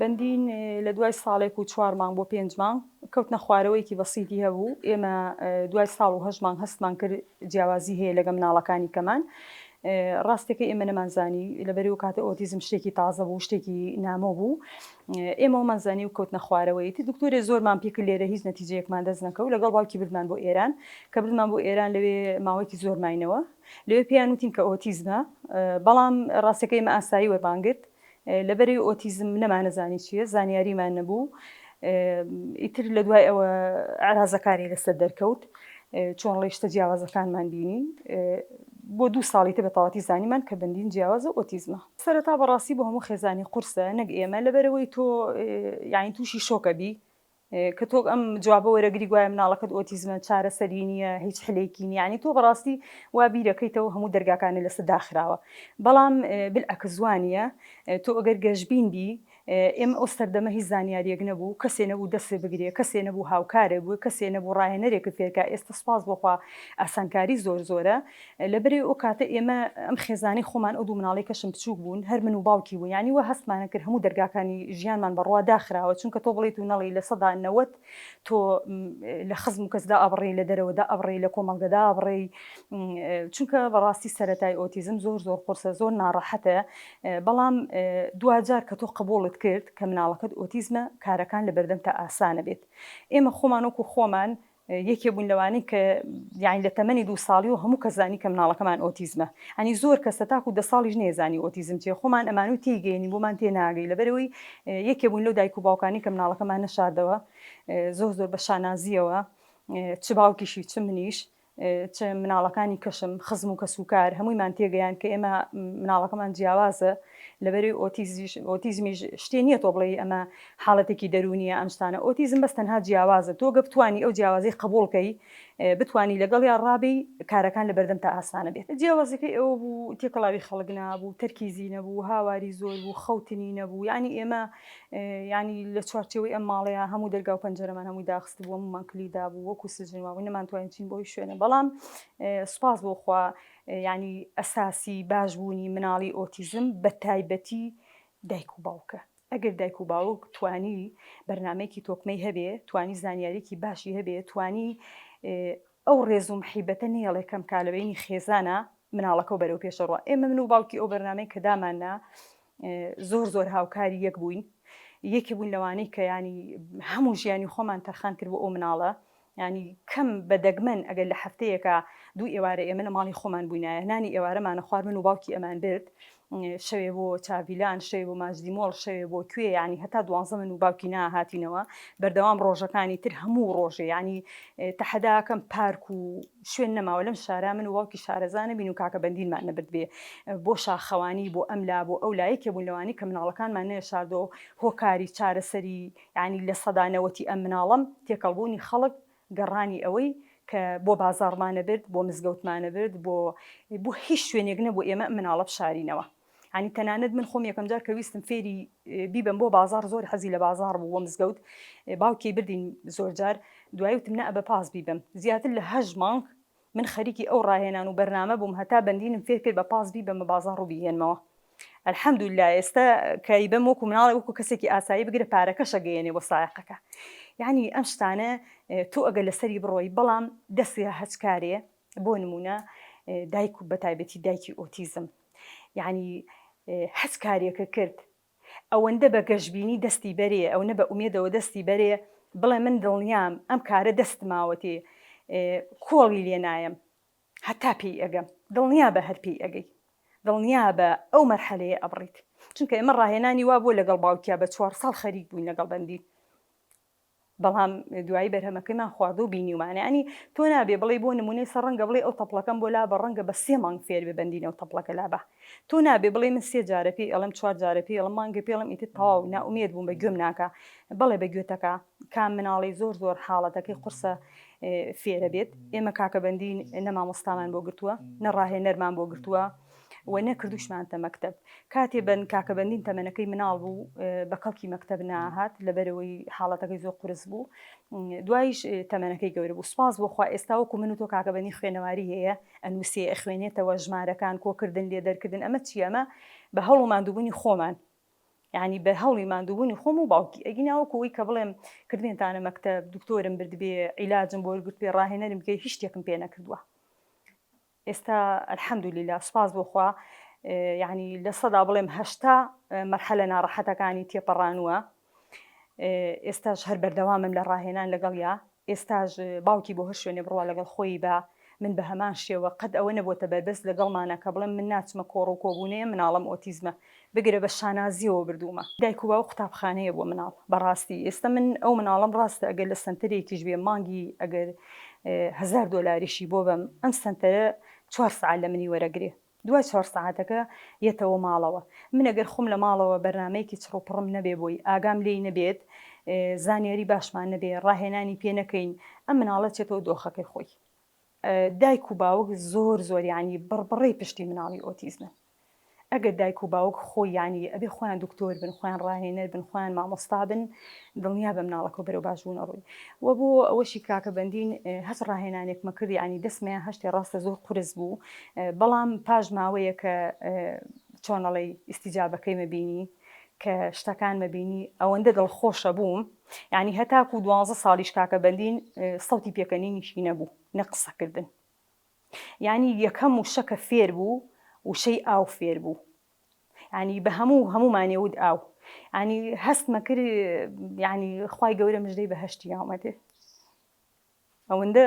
بەندین لە دوای ساڵێک و چوار مانگ بۆ پێنج مانگ کەوتنە خوارەوەیەکی بەسیتی هەبوو ئێمە دوای ساڵ و هەشت مانگ هەستمان کرد جیاوازی هەیە لەگە مناڵەکانی کەمان ڕاستەکە ئێمە نەمانزانی لەبەرو کاتە ئۆتیزم شتێکی تازە بوو شتێکی نامۆ بوو ئێمەەوە مەزانی و کەوتنە خوارەوەیتی دکتۆری زۆرمان پیکرد لێرە هیچ نەتیجەیەکمان دەست نەکە و لەگەڵ باوکی بردمان بۆ ئێران کە بردمان بۆ ئێران لەوێ ماوەیەکی زۆر ماینەوە لەوێ پێیان وتین کە ئۆتیزمە بەڵام ڕاستەکەی مە ئاسایی وەربانگرت لەبەرەی ئۆتیزم نەمانەزانی چیە زانیاریمان نەبوو ئیتر لە دوای ئەوە عرازەکانی لەسەر دەرکەوت چۆن ڕیشتە جیاوازەکانمان بینی بۆ دوو ساڵی تە بەتەواتی زانیمان کە بندین جیاوازە ئۆتیزمە سەرەتا بەڕاستی بۆ هەموو خێزانی قورسە نەک ئێمە لەبەرەوەی تۆ یاین تووشی شۆکەبی کە تۆ ئەم جوابە وەرەگری گوایە مناڵەکەت ئۆتیزمە چارەسەری نییە هیچ حلێکی نیە ینی تۆ بەڕاستی وا بیرەکەیتەوە هەموو دەرگاکانە لەسە داخراوە بەڵام بالعکس وانە تۆ ئەگەر گەشبین بی ئێمە ئەو سەردەمە هیچ زانیاریەک نەبوو کەسێ نەبوو دەسێ بگرێ کەسێ نەبوو هاوکارێ بوو کەسێ نەبوو ڕاهێنەرێکت فێرکە ئێستا سپاس بۆخوا ئاسانکاری زۆر زۆرە لەبری ئەو کاتە ئێمە ئەم خێزانەی خۆمان ئەو دوو مناڵەی کەشم بچووک بوون هەر من و باوکی بوو یانی وا هەستمانە کرد هەموو دەرگاکانی ژیانمان بەڕووا داخراوە چونکە تۆ بڵێیت و نەڵێی لە سەدا نەوەد تۆ لە خزم و کەس دا ئەبڕێی لە دەرەوە دا ئەبڕێی لە کۆمەڵگە دا ئەبڕێی چونکە بەڕاستی سەرەتای ئۆتیزم زۆر زۆر قورسە زۆر ناڕەحەتە بەڵام دواجار کە تۆ قبوڵت کرد کە مناڵەکەت ئۆتیزمە کارەکان لە بەردەمتە ئاسانە بێت ئێمە خۆمان وەکو خۆمان یەکێ بوون لەوانەی کە یانی لە تەمەنی دوو ساڵی و هەموو کەس زانی کە مناڵەکەمان ئۆتیزمە ینی زۆر کەس تاکو دە ساڵیش نێزانی ئۆتیزم چیە خۆمان ئەمانوی تێی گەیەنی بۆمان تێ ناگەی لەبەرەوەی یەکێ بوون لەو دایک و باوکانی کە مناڵەکەمان نەشاردەوە زۆر زۆر بە شانازیەوە چ باوکیشی چ منیش چ مناڵەکانی کەشم خزم و کەسوکار هەموویمان تێگەیان کە ئێمە مناڵەکەمان جیاوازە لەبەری ئۆتیزیش ئۆتیزمیش شتێ نییە تۆ بڵێ ئەمە حاڵەتێکی دەروونیە ئەم شتانە ئۆتیزم بەس تەنها جیاوازە تۆ گەر بتوانی ئەو جیاوازی قبوڵ کەی بتوانی لەگەڵیا ڕابی کارەکان لەبەردەم تا ئاسانە بێت. جیاوازیەکەی ئەوە بوو تێکەڵاوی خەڵک نابوو تەرکیزی نەبوو هاواری زۆر بوو خەوتنی نەبوو یانی ئێمە یانی لە چوارچێوەی ئەم ماڵەیا هەموو دەرگاو پەنجەرەمان هەمووی داخست بوو هەموومان کلی دابوو وەکو سجن وابوو نەمانتوانی بچین بۆ هیچ شوێنێ بەڵام سوپاس بۆ خوا یانی ئەساسی باش بوونی مناڵی ئۆتیزم بە تایبەتی دایک و باوکە ئەگەر دایک و باوک توانی بەرنامەیەکی تۆکمەی هەبێ، توانی زانیاریەکی باشی هەبێ، توانی ئەو ڕێز و محیبەتە نەیەڵێ کەم کا لە بەینی خێزانا، مناڵەکەو بەرەو پێشە ڕوا. ئێمە من و باوکی ئەو بەرنامەی کە داماننا زۆر زۆر هاوکاری یەک بووین. یەکێ بووین لەوانەی کە یانی هەموو ژیانی خۆمان تەرخان کرد بۆ ئەو مناڵە. یانی کەم بە دەگمەن ئەگەر لە هەفتەیەکا دوو ئێوارە ئێمە لە ماڵی خۆمان بووینایە نانی ئێوارەمانە خوار من و باوکی ئەمان برد شەوێ بۆ چاڤیلان شەوێ بۆ ماجدی مۆڵ شەوێ بۆ کوێ یانی هەتا دوانزە من و باوکی ناهاتینەوە بەردەوام ڕۆژەکانی تر هەموو ڕۆژێ ینی تەحەداکەم پارک و شوێن نەماوە لەم شارە من و باوکی شارەزانە بین و کاکە بەندینمان نەبرد بێ بۆ شاخەوانی بۆ ئەملا بۆ ئەو لایەکێ بوون لەوانی کە مناڵەکانمان نێ شاردۆ هۆکاری چارەسەری یانی لە سەدا نەوەتی ئەم مناڵەم تێکەڵبوونی خەڵک گەڕانی ئەوەی کە بۆ بازاڕمانە برد بۆ مزگەوتمانە برد بۆ بۆ هیچ شوێنێک نەبوو ئێمە مناڵە بشارینەوە ینی تەنانەت من خۆم یەکەم جار کە ویستم فێری بیبم بۆ بازار زۆر حەزی لە بازار بوو بۆ مزگەوت باوکی بردین زۆر جار دوایوتم نە بە پاس بیبم زیاتر لە هەژ مانگ من خەریکی ئەو ڕاهێنان و بەرنامە بووم هەتا بەندینم فێر کرد بە پاس بیبەمە بازاڕ و بیهێنمەوە الحمدللە ئێستا کە ئیبەم وەکو مناڵێک وەکو کەسێکی ئاسایی بگرە پارەکەش ئەگەیەنێ بۆ سایەقەکە یعنی ئەم شتانە تۆ ئەگەر لەسەری بڕۆی بەڵام دەستی هەچ کارێ بۆ نمونە دایک و بە تایبەتی دایکی ئۆتیزم یعنی هەچ کارێکە کرد ئەوەندە بە گەشبینی دەستی بەرێ، ئەونە بە ئومێدەوە دەستی بەرێ، بڵێ من دڵنیام ئەم کارە دەستماوەتێ، کۆڵی لێ نایەم هەتا پێی ئەگەم. دڵنیا بە هەر پێی ئەگەی. دڵنیا بە ئەو مەرحەلەیە ئەبڕیت. چونکە ئێمە ڕاهێنانی وا بووە لەگەڵ باوکیا بە چوار ساڵ خەریک بووین لەگەڵ بەندین. بەڵام دوایی بەرهەمەکەیمان خواردوە و بینیومانە یانی تۆ نابێ بڵێی بۆ نمونەی سە ڕەنگە بڵێی ئەو تەپڵەکەم بۆ لابە ڕەنگە بە سێ مانگ فێر بێ بەندینە ئەو تەپڵەکە لابە تۆ نابێ بڵێی من سێ جارە پێی ئەڵێم چوار جارە پێی ئەڵم مانگێ پێڵم ئیتر تەواو نائومێد بووم بە گوێم ناکا بەڵێ بە گوێتەکە کام مناڵی زۆر زۆر حاڵەتەکەی قورسە فێرە بێت ئێمە کاکە بەندین نە مامۆستامان بۆ گرتووە نە ڕاهێنەرمان بۆ گرتووە و نەکردوشمانتە مەکتەب کاتێ بەن کاکە بەندین تەمەنەکەی مناڵ بوو بە کەڵکی مەکتەب ناهات لەبەرەوەی حاڵەتەکەی زۆر قرس بوو دوایش تەمەنەکەی گەورە بوو سپاس بۆخوا ئێستا وەکو من و تۆ کاکە بەنی خوێنەواری هەیە ئەنووسێ ئەخوێنێتەوە ژمارەکان کۆکردن لێ دەرکردن ئەمە چی ئەمە بە هەڵ و مادووبوونی خۆمان ینی بە هەڵی مادووبوونی خۆم و باوکی ئەگی ناوەکەوەی کە بڵێم کردێنتانە مەکتەب دکتۆرم بردبێ عیلاجم بۆ گرتێ ڕاهێنەرم بکەی هیچ شتێکم پێ نەکردووە ئێستا الحمدللە سوپاس بۆ خوا یەعنی لە سەدا بڵێم هەشتا مەرحەلە ناڕەحەتەکانی تێپەڕانووە ئێستاش هەر بەردەوامم لە ڕاهێنان لەگەڵیا ئێستاش باوکی بۆ هەر شوێنێ بڕوا لەگەڵ خۆی بە من بە هەمان شێوە قەت ئەوە نەبووتە بەربەست لەگەڵمانە کە بڵێم من ناچمە کۆڕ و کۆبوونەیە مناڵم ئۆتیزمە بگرە بە شانازیەوە بردوومە دایک و باوک قوتابخانەیە بۆ مناڵ بەڕاستی ئێستە من ئەو مناڵەم ڕاستە ئەگەر لە سەنتەرێکیش بێ مانگی ئەگەر هەزار دۆلاریشی بۆ بەم ئەم سەنتەرە چوار سەعات لە منی وەرەگرێ دوای چوار سەعاتەکە یەتەوە ماڵەوە من ئەگەر خوم لە ماڵەوە بەرنامەیەکی چڕوپڕم نەبێ بۆی ئاگام لێی نەبێت زانیاری باشمان نەبێ ڕاهێنانی پێ نەکەین ئەم مناڵە چێتەوە دۆخەکەی خۆی دایک و باوک زۆر زۆر یعنی بڕبڕەی پشتی مناڵی ئۆتیزمن ئەگەر دایک و باوک خۆی یانی ئەبێ خۆیان دکتۆر بن خۆیان ڕاهێنەر بن خۆیان مامۆستا بن دڵنیا بە مناڵەکە بەرەو باش بوونە ڕووی وە بۆ ئەوەشی کاکە بەندین هەچ ڕاهێنانێک مەکرد یانی دەسمەیان هەشتێ ڕاستە زۆر قورس بوو بەڵام پاش ماوەیە کە چۆنەڵی ئیسیجابەکەی مەبینی کە شتەکان مەبینی ئەوەندە دڵ خۆشە بووم یعنی هەتاکو دوانزە ساڵیش کاکە بەندین سەوتی پێکەنینیشی نەبوو نە قسەکردن یانی یەکەم وشە کە فێر بوو وشەی ئاو فێر بوو ینی بە هەموو هەمومانێ ود ئاو ینی هەستمە کرد ینی خی گەورە مژدەی بەهشتی یاومەێ ئەوەندە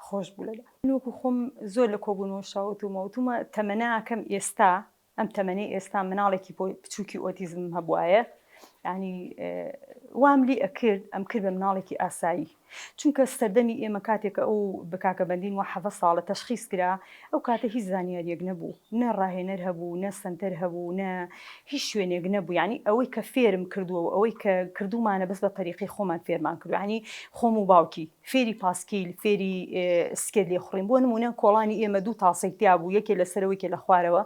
خۆش بوو لە نوکو خۆم زۆر لە کۆبوونەوە شاوت و مەوتومە تەمەناکەم ئێستا ئەم تەمەنەی ئێستا مناڵێکی بچوکی ئۆتیزمم هەبوایە ینی وام لی ئەکرد ئەم کرد بە مناڵێکی ئاسایی چونکە سەردەمی ئێمە کاتێکە ئەو بکاکە بەندین و حەڤە ساڵە تەشخیز کرا ئەو کاتە هیچ زانیاریەک نەبوو نە ڕاهێنەر هەبوو نە سنتەر هەبوو نە هیچ شوێنێک نەبوو ینی ئەوەی کە فێرم کردووە و ئەوەی کە کردومانە بەس بە تەریقی خۆمان فێرمان کردوانی خۆم و باوکی فێری پاسکیل، فێری سکێ لێخوڕین، بۆ نموونە کۆڵانی ئێمە دوو تاسەی تیا بوو، یەکێ لە سەرەوە یەکێ لە خوارەوە،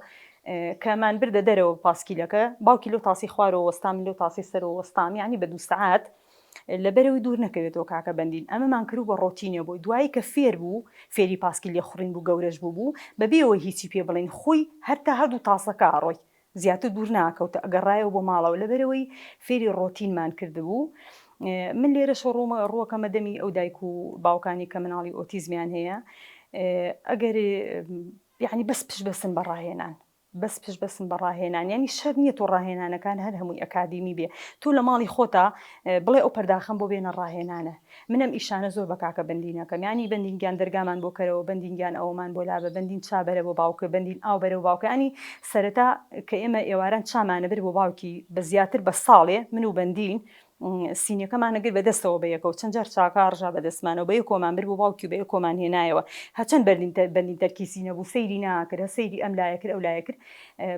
کە مان بردە دەرەوە پاسکیلەکە، باوکی لەو تاسەی خوارەوە وەستا، من لەو تاسەی سەرەوە وەستام، یانی بە دوو سەعات لە بەرەوەی دوور نەکەوێتەوە کاکە بەندین، ئەمەمان کرد و بە ڕۆتینە بۆی، دوایی کە فێر بوو، فێری پاسکیل لێخوڕین بوو، گەورەش بووبوو، بە بێ ئەوەی هیچی پێ بڵێین، خۆی هەر تا هەردوو تاسەکە ئەڕۆی، زیاتر دوور ناکەوت ئەگەڕایەوە بۆ ماڵەوە لەبەرئەوەی فێری ڕۆتینمان کردبوو من لێرەشەوە ڕوومە ڕووەکەمە دەمی ئەو دایک و باوکانی کە مناڵی ئۆتیزمیان هەیە ئەگەر یعنی بەس پشت بەسن بە ڕاهێنان بەس پشت بەسن بە ڕاهێنان ینی شەر نییە تۆ ڕاهێنانەکان هەر هەمووی ئەکادیمی بێ تۆ لە ماڵی خۆتا بڵێ ئەو پەرداخەم بۆ بێنە ڕاهێنانە من ئەم ئیشانە زۆر بە کاکە بەندین ئەکەم یانی بەندین گیان دەرگامان بۆ کەرەوە بەندین گیان ئەوەمان بۆ لابە بەندین چا بەرە بۆ باوکە بەندین ئاو بەرە بۆ باوکە یانی سەرەتا کە ئێمە ئێواران چامان ئەبرد بۆ باوکی بە زیاتر بە ساڵێ من و بەندین سینیەکەمان ئەگرت بە دەستەوە بە یەکەوە چەند جار چاکە ڕژا بە دەستمانەوە بە یەکۆمان برد بۆ باوکی و بە یەکۆمان هێنایەوە هەچەند بەرلین تە بەندین تەرکیزی نەبوو سەیری ناکرد هە سەیری ئەم لایە کرد ئەو لایە کرد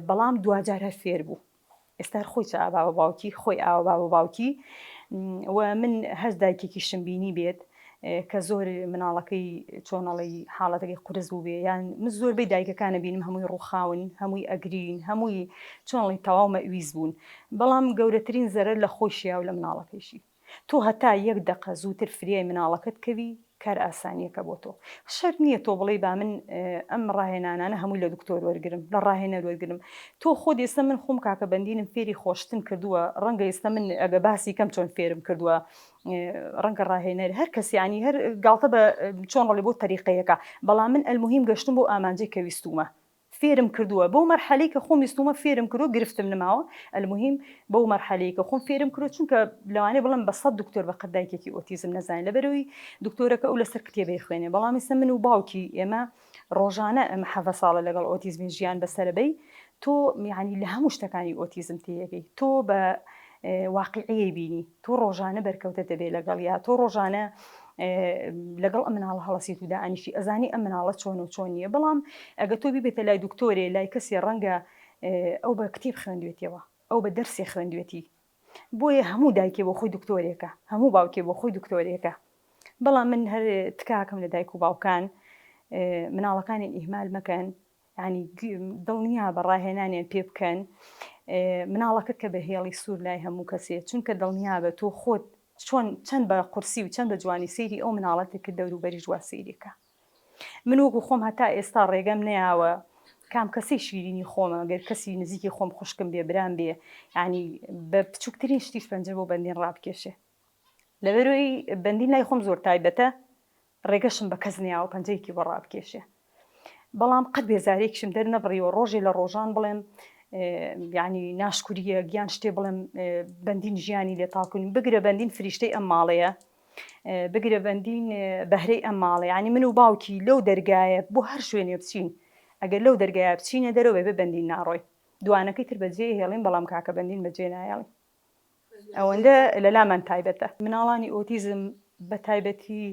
بەڵام دواجار هەر فێر بوو ئێستار خۆی چ ئاوا بە باوکی خۆی ئاوا با بە باوکی و من هەر دایکێکی شم بینی بێت کە زۆر مناڵەکەی چۆنەڵی حاڵەتەکەی قرس بوو بێ یان من زۆربەی دایکەکانە بینم هەمووی ڕووخاون هەمووی ئەگرین هەمووی چۆنڵی تەواو مەویز بوون بەڵام گەورەترین زەرەر لە خۆشییا و لە مناڵەکەیشی تۆ هەتا یەک دەقە زووتر فریای مناڵەکەت کەوی کار ئاسانیەکە بۆ تۆ شەرت نیە تۆ بڵێی با من ئەم ڕاهێنانانە هەمووی لە دکتۆر وەرگرم لە ڕاهێنەر وەرگرم تۆ خۆت ئێستا من خۆم کاکە بەندینم فێری خۆشتن کردووە ڕەنگە ئێستا من ئەگە باسی کەم چۆن فێرم کردووە ڕەنگە ڕاهێنەر هەر کەسی عنی هەر گاڵتە بە چۆن ڕڵی بۆ تەریقەیەەکە بەڵام من ئەلمهیم گەشتم بۆ ئامانجێک کە ویستومە فێرم کردوە بەو مەرحەلەی کە خۆم ویستومە فێرم کرۆ گرفتم نماوە الموهیم بەو مەرحەلەی کە خۆم فێرم کرۆ چونکە لەوانەیە بڵێم بە سەد دکتۆر بە قەد دایکێکی ئۆتیزم نەزانێ لەبەرئەوی دکتۆرەکە ئەو لەسەر کتێبە ئەخوێنێ بەڵام ئیسە من و باوکی ئێمە ڕۆژانە ئەمە حەڤە ساڵە لەگەڵ ئۆتیزمی ژیان بەسەرە بەی تۆ یانی لە هەموو شتەکانی ئۆتیزم تێیەگەی تۆ بە واقعیەی بینی تۆ ڕۆژانە بەرکەوتە دەبێ لەگەڵ یا تۆ ڕۆژانە لەگەڵ ئەم مناڵە هەڵەسیت و دائەنیشی ئەزانی ئەم مناڵە چۆن و چۆن نییە بەڵام ئەگە تۆ بیبێتە لای دکتۆرێ لای کەسێ ڕەنگە ئەو بە کتێب خوێندوێتەوە ئەو بە دەرسێ خوێندوێتی بۆیە هەموو دایکێ بۆ خۆی دکتۆرێکە هەموو باوکێ بۆ خۆی دکتۆرێکە بەڵام من هەر تکاکەم لە دایک و باوکان مناڵەکانی ئیهمال مەکەن یانی دڵنیابە ڕاهێنانیان پێ بکەن مناڵەکەت کە بە هێڵی سوور لای هەموو کەسێ چونکە دڵنیابە تۆ خۆت چۆن چەند بە قورسی و چەند بە جوانی سەیری ئەو مناڵەتێک کە دەوروبەریش وا سەیرێکە من وەکو خۆم هەتا ئێستا ڕێگەم نەیاوە کام کەسی شیرینی خۆمە گەر کەسی نزیکی خۆم خوشکم بێ برام بێ ینی بە بچووکترین شتیش پەنجە بۆ بەندین ڕابکێشێ لەبەروی بەندین لای خۆم زۆر تایبەتە ڕێگەشم بە کەس نەیاوە پەنجەیەکی بۆ ڕابکێشێ. بەڵام قەت بێزارییەکیشم دەرنەبڕیوە ڕۆژێ لە ڕۆژان بڵێم یانی ناشکورییە گیان شتێ بڵێم بەندین ژیانی لێ تاڵ کونیم بگرە بەندین فریشتەی ئەم ماڵەیە بگرە بەندین بەهرەی ئەم ماڵە یانی من و باوکی لەو دەرگایە بۆ هەر شوێنێ بچین ئەگەر لەو دەرگایە بچینە دەرەوە بێ بەندین ناڕۆی دوانەکەی تر بەجێ هێڵین بەڵام کاکە بەندین بەجێ نایەڵین ئەوەندە لە لامان تایبەتە. مناڵانی ئۆتیزم بە تایبەتی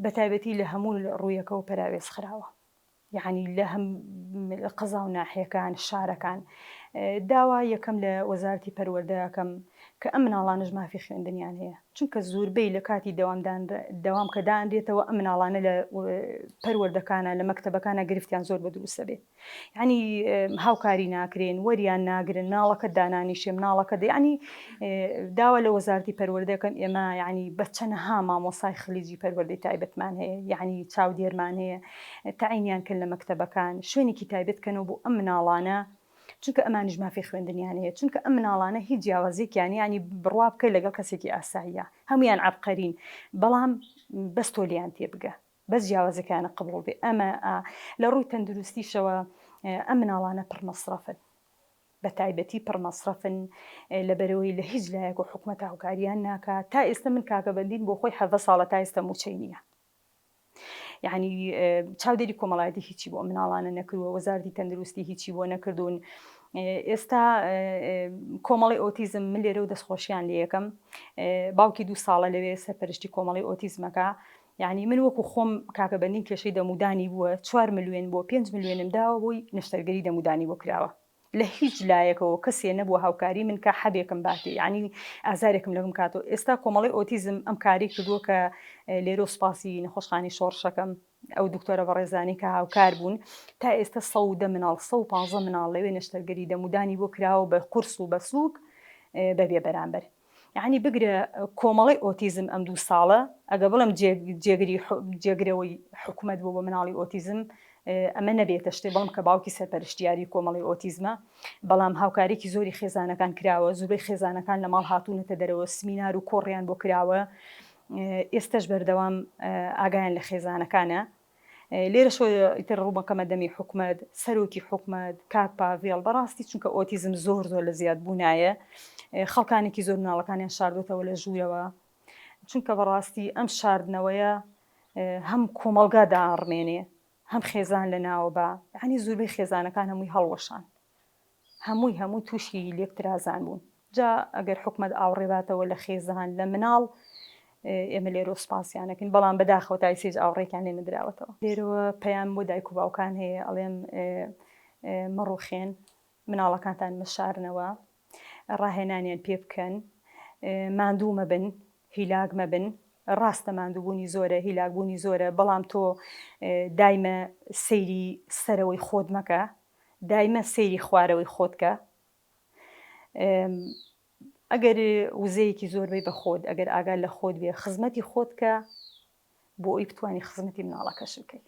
بە تایبەتی لە هەموو ڕوویەکەوە پەراوێز خراوە. یەعنی لە هەم قەزا و ناحیەکان، شارەکان. داوا یەکەم لە وەزارەتی پەروەردە ئەکەم کە ئەم مناڵانەش مافی خوێندنیان هەیە. چونکە زوربەی لە کاتی دەوام دان دەوام کە دانرێتەوە ئەم مناڵانە لە پەروەردەکانە لە مەکتەبەکانە گرفتیان زۆر بە دروست دەبێ. یانی هاوکاری ناکرێن وەریان ناگرن مناڵەکەت دانانیشێ مناڵەکەت یانی داوا لە وەزارتی پەروەردەکەن ئێمە یانی بەچەنەها مامۆسای خلیجی پەروەردەی تایبەتمان هەیە یعنی چاودێرمان هەیە تعینیان کە لە مەکتتەبەکان شوێنێکی تایبەتکەنەوە بۆ ئەم مناڵانە چونکە ئەمانش مافی خوێندنیان هەیە چونکە ئەم مناڵانە هیچ جیاوازێکیان ینی بڕوا بکەیت لەگەڵ کەسێکی ئاساییە هەمویان عبقەرین بەڵام بەستۆلیان تێبگە بەس جیاوازیەکانە قبوڵ بێ ئەمە ئا لە ڕووی تەندروستیشەوە ئەم مناڵانە پڕ مەسڕەفن بە تایبەتی پڕ مەسڕەفن لە بەرەوەی لە هیچ لایەک و حکومەت هاوکاریان ناکا تا ئێستا من کاکە بەندین بۆ خۆی حەڤە ساڵە تا ئێستا موچەی نییە یعنی چاودێری کۆمەڵایەتی هیچی بۆ مناڵانە نەکرووە وەزارتی تەندروستی هیچی بۆ نەکردوون ئێستا کۆمەڵی ئۆتیزم من لێرە و دەستخۆشیان لە یەکەم باوکی دوو ساڵە لەوێ سەرپەرشتی کۆمەڵی ئۆتیزمەکە یانی من وەکو خۆم کاکە بەندیم کێشەی دەمودانی بووە چوار ملوێن بۆ پێنج ملوێنم داوە بۆی نەشتەرگەری دەمودانی بۆ کراوە لە هیچ لایەکەوە کەسێ نەبووە هاوکاری من کا حەبێکم باتێ یانی ئازارێکم لەبم کاتۆ ئێستا کۆمەڵی ئۆتیزم ئەم کاری کردووە کە لێرۆ سوپاسی نەخۆشخانی شۆڕشەکەم ئەو دکتۆرە بەڕێزانی کە هاوکار بوون تا ئێستا سە و دە مناڵ سە و پانزە مناڵ لەوێ نەشتەرگەری دەمودانی بۆ کراوە بە قورس و بە سووک بەبێ بەرامبەر یەعنی بگرە کۆمەڵەی ئۆتیزم ئەم دوو ساڵە ئەگە بڵێم جێگری جێگرەوەی حکومەت بۆ بە مناڵی ئۆتیزم ئەمە نەبێتە شتێ بەڵم کە باوکی سەرپەرشتیاری کۆمەڵی ئۆتیزمە بەڵام هاوکارێکی زۆری خێزانەکان کراوە زوبەی خێزانەکان لە ماڵ هاتوونەتە دەرەوە سمینار و کۆڕیان بۆ کراوە ئێستش بەردەوام ئاگایان لە خێزانەکانە لێرەشەوە ئیتر ڕوودەکەمە دەمی حکومەت، سەرۆکی حکومەت، کاک پاڤێڵ، بەڕاستی چونکە ئۆتیزم زۆر زۆر لە زیاد بوونایە، خەڵکانێکی زۆر مناڵەکانیان شاردۆتەوە لە ژوورەوە، چونکە بەڕاستی ئەم شاردنەوەیە هەم کۆمەڵگا داڕمێنێ، هەم خێزان لە ناوە با، یانی زوربەی خێزانەکان هەمووی هەڵوەشان. هەمووی هەموو تووشی لێکترازان بوون جا ئەگەر حکومەت ئاوڕێ باتەوە لە خێزان لە مناڵ ئێمە لێرۆ سوپاسیانەکەین بەڵام بەداخەوە تا ئیسێج ئاوڕێکیان لێ نەدراوەتەوە لێرەوە پەیام بۆ دایک و باوکان هەیە ئەڵێم مەڕوخێن مناڵەکانتان مەشارنەوە ڕاهێنانیان پێ بکەن ماندوو مەبن هیلاک مەبن ڕاستە ماندووبوونی زۆرە هیلاکبوونی زۆرە بەڵام تۆ دایمە سەیری سەرەوەی خۆت مەکە دایمە سەیری خوارەوەی خۆتکە ئەگەر وزەیەکی زۆر بی بەخۆت ئەگەر ئاگال لە خۆت بێ خزمەتی خۆتکە بۆ ئەوی بتانی خزمەتی مناڵەکەش بکەیت